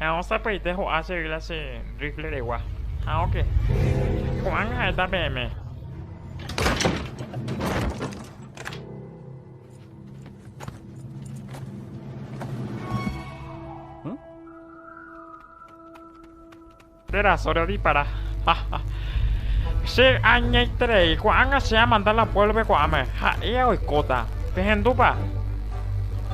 Ha osãpaite ho'a che yla che rifle regua. Ha oke. Ko'ág̃a ha'éta peẽme. Térã sólo dispara. Haha. Che añaiterei, ko'ág̃a che amanda la puévlope ko'áme. Ha'éa oikóta. Pehendúpa?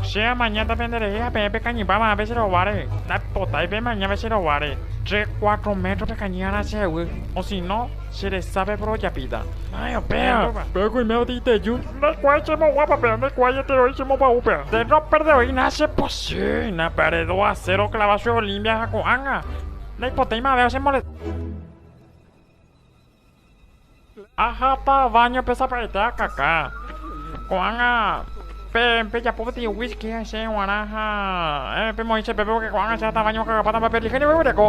Che amañáta penderehe ha peẽ pekañypa ma'ãpe che rováre. Ndaipotái pemañáva che rováre. Tre cuatro métro pekañy ára che yvy. Osino, che resápe porojapíta. Nái upéva. Pe okoime otĩ iteju. Ndaikuaái che moguápape, ndaikuaái etero'i che momba'úpe. Nde roperdeoína che pochýina pe aredo asero clava che Olimpia ha ko'ág̃a. Naipotaimave ochemolesta. Ahápa váñope sapy'aite akaka. Ko'ág̃a pejapo peteĩ wíski hese g̃uarã ha pemoĩ che pépe pórke ko'ág̃a che hatã váño okagapáta mba'e perlíja ñe'ẽgui oreko.